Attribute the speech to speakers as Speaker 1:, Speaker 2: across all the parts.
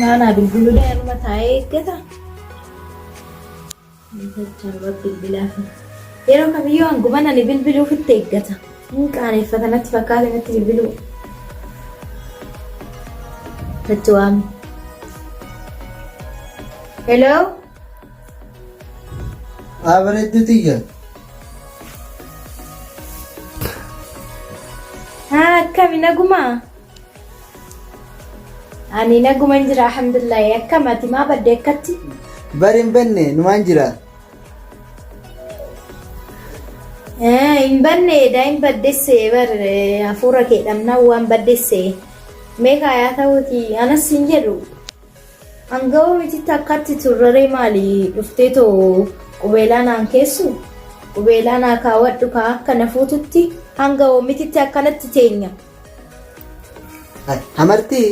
Speaker 1: Naa naa bilbilulee anuma taa'ee eeggata. Namicha anuma bilbilaafi. Yeroo kamiyyuu hanguman ani bilbiluuf itti eeggata. Inni qaaneffata natti fakkaate natti bilbiluu. Natti waami. Hello?
Speaker 2: Haa bareedduu tiyya.
Speaker 1: Haa akkami nagumaa? Ani naguman jira alhamdulillahi akkam ati maa badde akkatti? Bari hin banne
Speaker 2: numaan jira.
Speaker 1: Eh, Hin banne edaa hin baddesse bar eh, hafuura kee dhabnaan waan baddesse. Meeqa yaa ta'uuti anas hin jedhu. Anga'oo mititti akkatti turraree maali dhuftee too qubeelaa naan keessu? Qubeelaa naa kaawwadhu kaa akka na fuututti hanga oomititti akkanatti teenya. Hamartii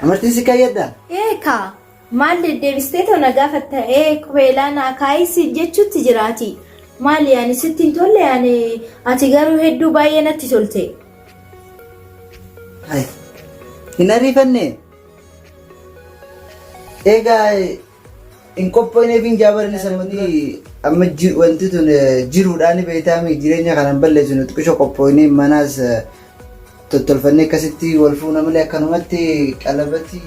Speaker 2: hamartii si kayyadda. Eeka
Speaker 1: maal deddeebistee too na gaafatta ee qubeelaa naa kaayii si jechuutti jiraati. Maali ani sitti hin tolle ani ati garuu hedduu baay'ee natti tolte.
Speaker 2: Hin ariifanne. Eegaa hin qophoineef hin jaabarani sammati amma ji- wanti tun eh, jiruudhaan beektaami jireenya kanan balleessu nuti qisho qophoinee manaas eh, tottolfannee akkasitti wal fuuna malee akkanumatti qalabatii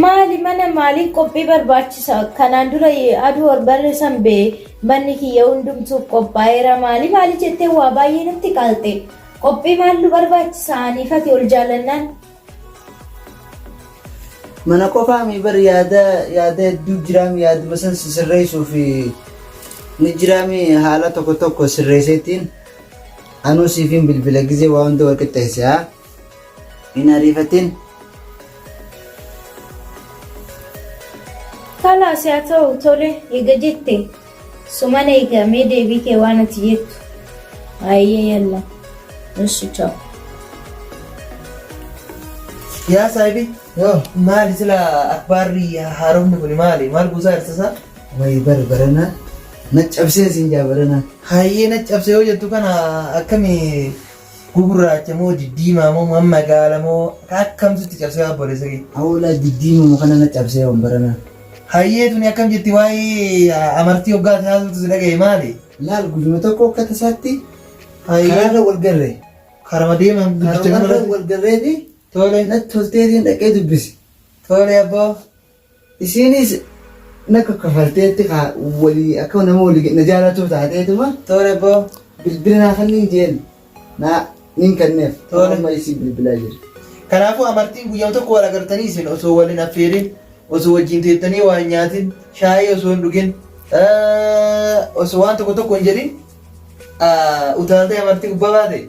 Speaker 2: Maali
Speaker 1: mana maaliif qophii barbaachisa? Kanaan dura aduu ol barreessan bee manni kiyya hundumtuuf qophaa'eera maali maali jettee waa baay'ee natti qaalte. Qophii maaltu barbaachisa aniifati ol jaallannaan
Speaker 2: Mana qofaa mii bar yaada yaada hedduu jiraami yaaduma san si sirreessuuf ni jiraami haala tokko tokko sirreesseetiin anuu siifiin bilbila gizee waa hunda wal qixxeesse haa hin ariifatin.
Speaker 1: Kalaas haa ta'u tole eega jette. Suman eega mee deebii kee waan ati jettu. Hayyee yalla. Eshi chao.
Speaker 3: Yaa saahibi Yoo. maali
Speaker 2: sila
Speaker 3: akbaarri haaromni kun maali maal buusaa jirta isaa? Wayi bar
Speaker 2: barana na cabsee siin jaa barana. Hayyee na cabse
Speaker 3: yoo jettu kana akkami Gugurraacha moo diddiimaa moo man magaala moo akkamtu itti cabsee yaa obboleessa kee. Awolaa diddiima muka
Speaker 2: nana cabsee waan baranaa. Hayyee tuni
Speaker 3: akkam jetti waa'ee ah, amartii hoggaa ati haasoftu si dhagaye maali? Laal guyyuma tokko
Speaker 2: akka tasaatti Hayyee karaarra wal garre. karama deeman
Speaker 3: guddicha kana Karaarra irratti. wal garree
Speaker 2: fi Tole natti
Speaker 3: tolteetiin
Speaker 2: dhaqee dubbisi. tole abboo.
Speaker 3: Isiinis
Speaker 2: na kaffalteetti kaa walii akka nama walii na jaalatuu taateetuma. Tole boo
Speaker 3: bilbila naa kanniin
Speaker 2: jeen naa nin kanneef Tole. amma isiin bilbilaa
Speaker 3: jira.
Speaker 2: Kanaafuu amartiin
Speaker 3: guyyama tokko wal agartanii isin osoo wal hin affeerin osoo wajjin teettanii waa hin nyaatin shaayii osoo hin dhugin osoo waan tokko tokko hin jedhin utaaltee amartii gubbaa baate.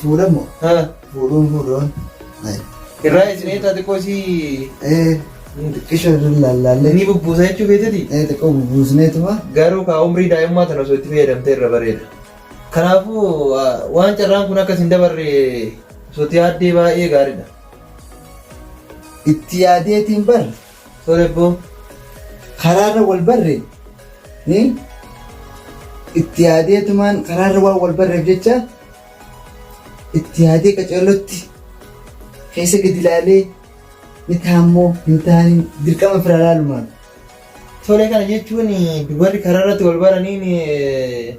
Speaker 2: Fuudhamu. Fuudhuun fuudhuun.
Speaker 3: Irraa isinee taate qoosii. Xiqqisho
Speaker 2: irra lallaallee. Ni bubbuusa jechuu feeteti.
Speaker 3: Xiqqoo bubbuusneetuma.
Speaker 2: Garuu kaa umrii
Speaker 3: daa'immaa tana osoo itti fayyadamte irra bareeda. Kanaafuu waan carraan kun akkas hin dabarre osoo itti yaaddee baay'ee gaariidha. Itti
Speaker 2: yaadeetiin bar Sorry bro.
Speaker 3: Karaarra
Speaker 2: wal barre ni itti yaadeetumaan karaarra waan wal barreef jecha itti yaadee qaceellotti keessa gadi ilaalee ni taammoo hin taaniin dirqama fira ilaalumaan. Tolee
Speaker 3: kana jechuun dubarri karaarratti wal baraniin eh,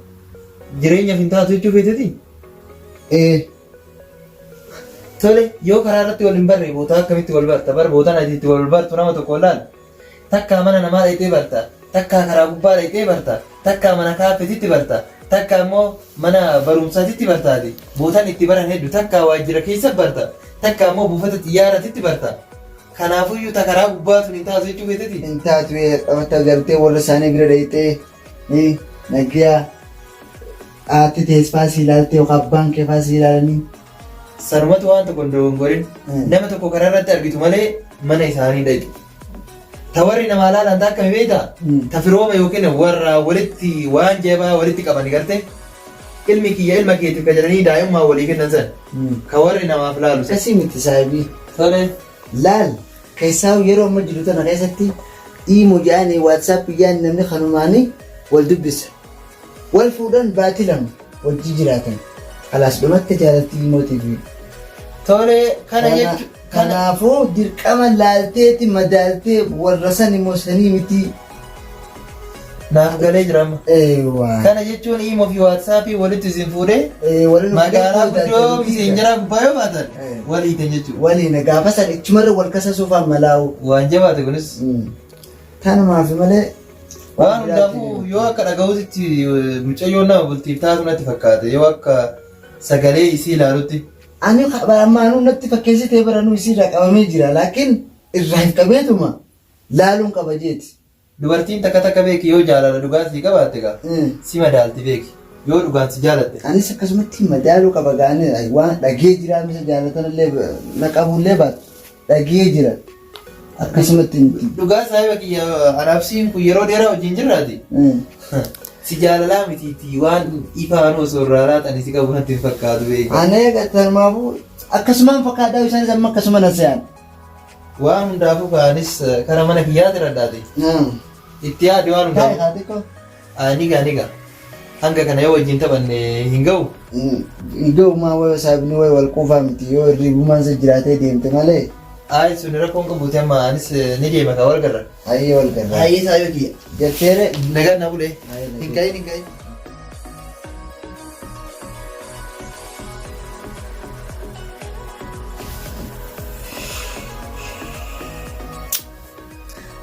Speaker 3: jireenyaaf hin taatu jechuu feeteti? Ee Tole yoo karaa irratti wal hin barre bootaa akkamitti wal barta bar bootaan ati itti wal bartu nama tokko laal takkaa mana namaa dhayxee barta takkaa karaa gubbaa dhayxee barta takkaa mana kaaffetitti barta takkaa immoo mana barumsaatitti bartaati bootaan itti baran heddu takkaa waajjira keessa barta takkaa immoo buufata xiyyaaratitti barta kanaafuyyuu ta karaa gubbaa sun hin taatu jechuu feeteti. Hin taatu
Speaker 2: bakka galtee warra isaanii bira dhayxee Ee nagyaa haatti tees faa si ilaaltee yookaan abbaan kee faa si ilaalanii. Sanumatu
Speaker 3: waan tokko hin dogongorin. Mm. Nama tokko karaa irratti argitu malee mana isaanii dhaqi. Ta warri namaa laalan ta akkami beekta? Mm. Ta firooma yookiin warra walitti waan jabaa walitti qaban garte ilmi kiyya ilma keetiif ka jedhanii daa'immaa walii kennan san ka warri namaaf laalu san. Akkasii miti saahibii.
Speaker 2: Tole.
Speaker 3: Laal
Speaker 2: Keessaahu yeroo amma jiru tana keessatti iimo jaani WhatsApp jaani namni kanumaani wal dubbisa. Wal fuudhan baati lama wajji jiraatan. Alaas dhumatte jaalattii iimootii fi Tole
Speaker 3: kana jechu kana Kanaafuu
Speaker 2: dirqama laalteeti madaaltee warra san immoo sanii mitii
Speaker 3: Naaf galee jira amma. Eewwaa. Kana jechuun imoo fi waatsaappii walitti isin fuudhee Eh, waliin magaalaa fuudhee guddoo fuudhee miseenjaraa gubbaa yoo baatan Eh. walii kan jechuudha. Waliin gaafa san
Speaker 2: ichumarra wal kasasuuf ammalaa'u. Waan jabaate kunis Tanumaaf malee. waan hundaafuu
Speaker 3: yoo akka dhaga'uutti mucayyoo nama bultiif taatu natti fakkaate yoo akka sagalee isii ilaalutti. Ani
Speaker 2: ammaanuu natti fakkeessitee baranuu isiirraa qabamee jira laakiin irraa hin qabeetuma. laaluun qaba jeeti. Dubartiin takka
Speaker 3: takka beeki yoo jaalala dhugaa sii qabaatte gaa Eh. si madaalti beeki yoo dhugaan si jaalatte. Anis akkasumatti
Speaker 2: madaaluu qaba gaanii ay, waan dhagee jira misa jaalatanillee ba- na qabullee baatu dhagee jira akkasumatti miti. Dhugaa saahiba
Speaker 3: kiyya anaabsiin kun yeroo dheeraa wajjin jirraati. Eh. Si jaalalaa mitiitii waan ifaan osoo irraa laatan si qabu natti hin fakkaatu beeki. Anee tarmaafuu
Speaker 2: akkasumaan fakkaadhaa isaanis amma akkasuma na se'an. Waan
Speaker 3: hundaafuu kaanis kara mana kiyyaa jiradhaati. Itti yaadi waan Taa'e hundaafuu. haati koo. Ah, Ni gaa ni gaa. Hanga kana yoo wajjin taphanne hin ga'u. Idoomaa
Speaker 2: wayoo saabni wayii wal quufaa miti yoo hirribumaan isa jiraatee deemte malee Ayi sun rakkoon
Speaker 3: qabuuti amma anis eh, ni deema kaa wal garra. hayyee wal garraa. Ayi
Speaker 2: isaa yoo kiyya.
Speaker 3: Jetteere. Nagaan
Speaker 2: na bulee.
Speaker 3: Ayi, nagaan. Hin ka'in hin ka'in.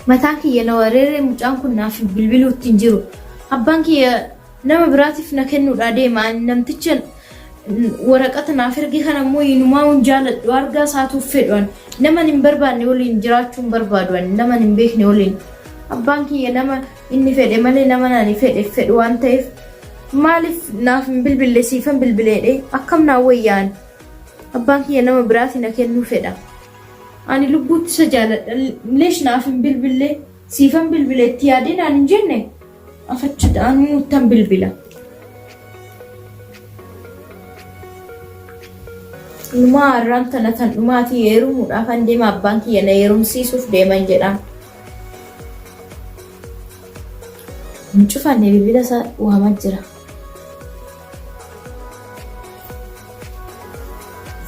Speaker 1: mataan kiyya na wareeree mucaan kun naaf bilbiluu ittiin jiru abbaan kiyya nama biraatiif na kennuudhaa deema ani namticha waraqata naaf erge kana immoo inumaa hin jaaladhu argaa isaatuuf fedhuan naman hin barbaanne waliin jiraachuun barbaaduan naman hin beekne waliin abbaan kiyya nama Inni fedhe malee nama ani fedheef fedhu waan ta'eef maaliif naaf hin bilbille siifan bilbileedhee akkam naa wayya ani abbaan kiyya nama biraati na kennuu fedha ani lubbuutti isa jaaladha leesh naaf hin bilbille siifan bilbile itti yaadee naan hin jenne afachuudha anuu ittan bilbila. Numaa har'aan tana tan dhumaatii heerumuudhaaf an deema abbaan kiyya na heerumsiisuuf deeman jedhaan. hin cufanne bilbila isaa waama jira.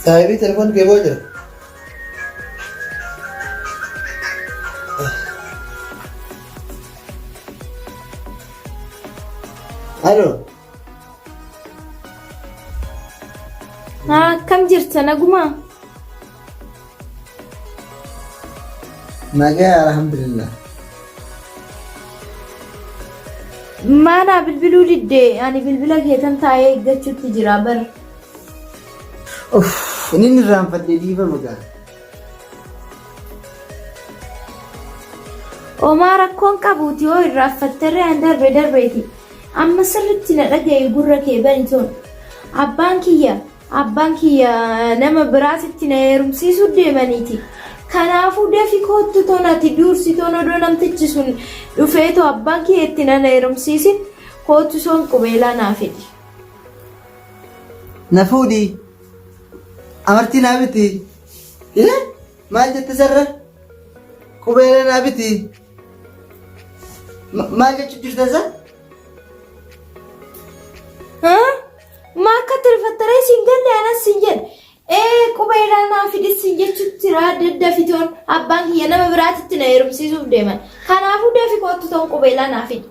Speaker 3: Saahibii telefoon kee boo jira.
Speaker 2: Halo.
Speaker 1: Akkam jirta nagumaa?
Speaker 2: Nagaya alhamdulillah.
Speaker 1: Maanaa bilbiluu didde ani bilbila keetan taa'ee eeggachuutti jira bar. Uff,
Speaker 2: inni irraanfadhe dhiifama gaa.
Speaker 1: Omaa rakkoon qabuuti yoo irraaffatterree an darbe darbeeti. Amma sirritti na dhaga'i gurra kee bani ton. Abbaan kiyya abbaan kiyya nama biraatitti na heerumsiisuu deemaniiti. Kanaafuu dafi koottu ton ati duursi ton odoo namtichi sun dhufee too abbaan kiyya itti na heerumsiisin koottu soon qubeelaa naa fidi.
Speaker 2: Na fuudhi. Amartii naa biti. Hee? Maal jette sarra? Qubeelaa naa biti. Maal jechuun jirta isaa?
Speaker 1: Maa akka itti rifattaree siin galle anas siin jedhe. Ee quba irraa naa fidis siin jechuutti raa daddafitoon abbaan kiyya nama biraatitti na heerumsiisuuf deeman. Kanaafuu dafi kootu toon quba irraa naa fidi.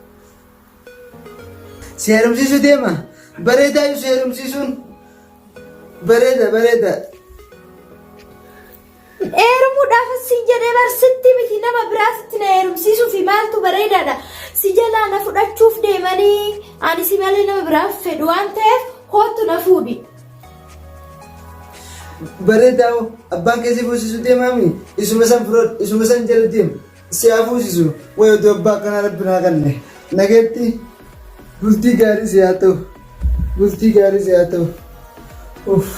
Speaker 2: Si heerumsiisuu deema. Bareedaa iyyuu si heerumsiisuun. Bareeda bareeda.
Speaker 1: Heerumuudhaaf sin jedhee bar sitti miti nama biraa sitti na heerumsiisuu fi maaltu bareedaadha. Si jalaa na fudhachuuf deemanii ani si malee nama biraa fedhu waan ta'eef kootu na fuudhi.
Speaker 2: Bareedaa hoo abbaan keessi fuusisuu deemaami isuma san firoodha isuma san jala deema. si haa fuusisu way oduu abbaa akkanaa rabbi naa kanne nageetti bultii gaarii si haa ta'u bultii gaarii si haa ta'u uff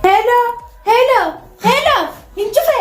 Speaker 1: Hello, hello, hello, hin cufe.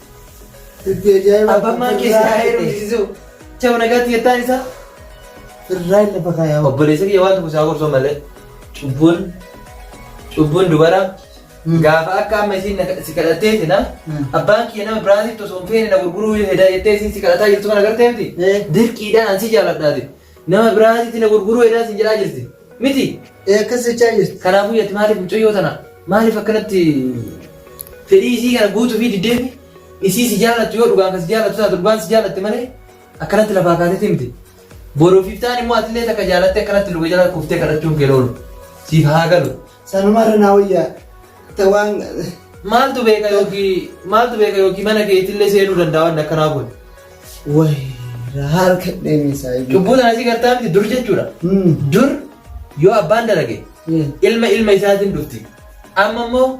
Speaker 3: Dubbii
Speaker 2: ajaa'ibaa. Abbaan maan keessa Irraa taa'ee
Speaker 3: hidhe. rukkisisuu. Chama nagaatti jettaan isaa. Irraa
Speaker 2: hin lafa kaayaa. Obboleessa kiyya waan tokko isaa
Speaker 3: gorsoo malee cubbuun cubbuun dubara gaafa akka amma isiin na- si kadhattee sina Mm. abbaan kiyya nama biraatitti osoo hin feene na gurguruu hedaa jettee isiin si kadhataa jirtu kana gartee miti Eh. dirqiidhaan an si jaaladhaati Nama biraatitti na gurguruu hedaa siin jedhaa jirti. Miti? Ee akkas jechaa
Speaker 2: jirti. Kanaafuu yati maaliif mucayyoo
Speaker 3: tana maaliif akkanatti fedhii isii kana guutuu fi diddeefi isii si jaalattu yoo dhugaan kan si jaalattu taatu dhugaan si jaalatte malee akkanatti lafaa kaatetti miti. Boruufiif ta'an immoo atillee takka jaalattee akkanatti luka jala kuftee kadhachuun kee loolu. Siif haa galu. Sanuma irra naa wayya.
Speaker 2: Ta waan Maaltu
Speaker 3: beeka yookiin maaltu beeka yookiin mana keetillee seenuu danda'a waan akkanaa kun. wayra
Speaker 2: harka dheemisaa iyyuu. Cubbuu sana asii gartaa
Speaker 3: miti dur jechuudha. Hmm. Dur yoo abbaan dalage Eh. ilma ilma isaatiin dhufti. Amma immoo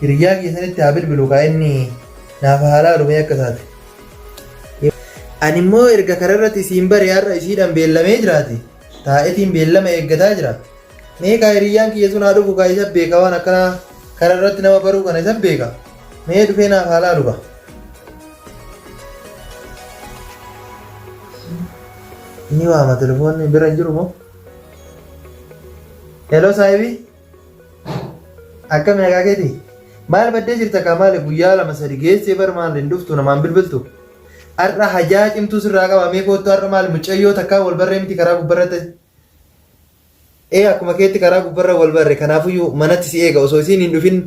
Speaker 3: Hiriyyaa kiyya sanitti haa bilbilu kaa inni naaf haa laalu mee akka taate. Ani immoo erga kara irratti isiin bare har'a isiidhaan beellamee jiraate taa'etiin beellama eeggataa jira. Mee kaa hiriyyaan kiyya sun haa dhufu kaa isa beeka waan akkanaa kara irratti nama baruu kana isa beeka. Mee dhufee naaf haa laalu kaa. Ni waama telefoonni bira hin jiru moo? Hello saahibii. Akkami nagaa keeti? Maal baddee jirta kaa maali guyyaa lama sadi geessee bar maal hin dhuftu namaan bilbiltu? Har'a hajaa cimtuu sirraa qaba mee koottu har'a maali mucayyoo takkaa wal barree miti karaa gubbarra ta'e. Ee akkuma keetti karaa gubbarra wal barre kanaafuyyuu manatti si eega osoo isiin hin dhufin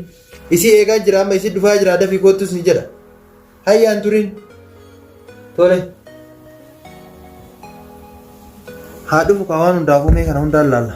Speaker 3: isii eegaa jira amma isii dhufaa jira dafii koottus ni jedha. Hayyaan turiin. Tole. Haa dhufu kaa waan hundaafuu mee kana hundaan laalla.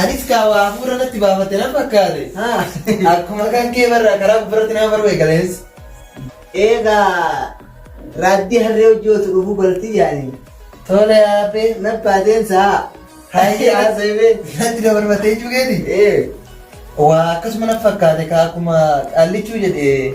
Speaker 3: Anis kaa waa hafuura natti baafatte nan fakkaate. Akkuma kan kee barra karaa gubbarratti nama baruu eegalees. Eegaa
Speaker 2: raaddii harree hojii otu dhufuu bartii yaani. Tola yaabee
Speaker 3: nabbaa deemsaa.
Speaker 2: Hayyee haasa'ee
Speaker 3: natti na barbaatee jechuu keeti. Ee. Waa akkasuma nan fakkaate kaa akkuma qallichuu jedhe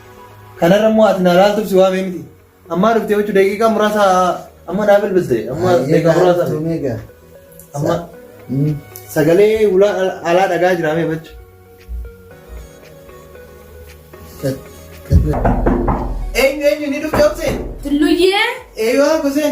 Speaker 3: Kanarra immoo ati naa laaltuuf si waamee miti. Ammaa dhuftee jechuun daqiiqaa muraasa amma naa bilbiste. Amma daqiiqaa muraasa. Amma sagalee ulaa alaa dhagaa jira mee bachu. Eenyu eenyu ni dhufte obsee? Tulluyyee.
Speaker 1: Eeyyuu obsee.